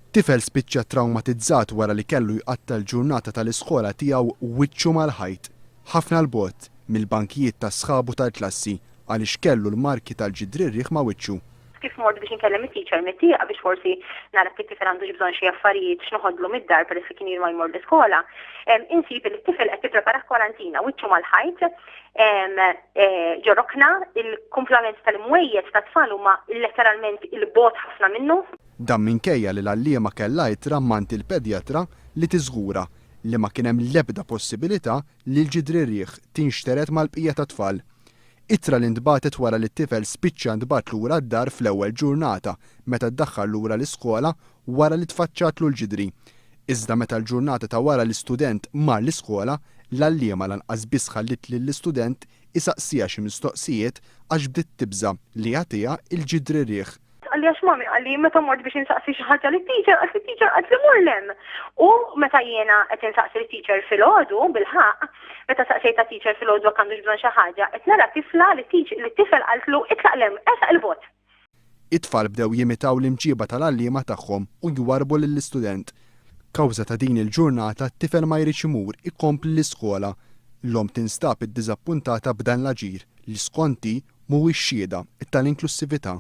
Tifel spiċċa ttrawmatizzat wara li kellu jqatta' l-ġurnata tal-iskola tiegħu wiċċu mal-ħajt, ħafna 'l bogħod mill-bankijiet ta' sħabu tal-klassi għaliex kellu l-marki tal-ġidrirriħ ma' wiċċu. Kif mort biex inkellem it-teacher mit-tieqa biex forsi nara jekk it-tifel għandux bżonn xi affarijiet x'noħodlu mid-dar peress li kien ilu ma jmur l-iskola, insib li t-tifel qed jipprepara kwarantina, wiċċu mal-ħajt, Eh, ġorokna, il-kumplament tal-imwejjed ta' tfal huma letteralment il-bot ħafna minnu. Dan minkejja li l-għalliema kellha ittra mant il-pedjatra li tiżgura li ma kien hemm l-ebda possibilità li l-ġidrirrieħ tinxtered mal-bqija tat-tfal. Ittra li ntbagħtet wara li t-tifel spiċċa ntbagħat lura d-dar fl-ewwel ġurnata meta ddaħħal lura l-iskola wara li tfaċċatlu l-ġidri. Iżda meta l-ġurnata ta' wara l-istudent mar l-iskola, l-għalliema lanqas biss ħalliet lill-istudent isaqsiha xi mistoqsijiet għax bdiet tibża' li jagħtiha l-ġid ririeħ. Tqalli għax mommy qalli meta mort biex insaqsi xi ħaġa lit-teacher qaltli t-teacher qaltli mur 'l hemm. U meta jiena qed insaqsi lit-teacher filgħodu, bilħaqq, meta saqsejt tat-teacher filgħodu jekk għandux bżonn xi ħaġa, qed nara tifla li t-tifel qaltlu itlaq 'l hemm, ersaq 'il bogħod. It-tfal bdew jimitaw l-imġieba tal-għalliema tagħhom u jwarrbu lill-istudent. Kawża ta' din il-ġurnata t-tifel ma jridx imur ikompli l-iskola. L-omm tinstab iddiżappuntata b'dan l-aġir li, skont'i, mhuwiex xhieda tal-inklussività.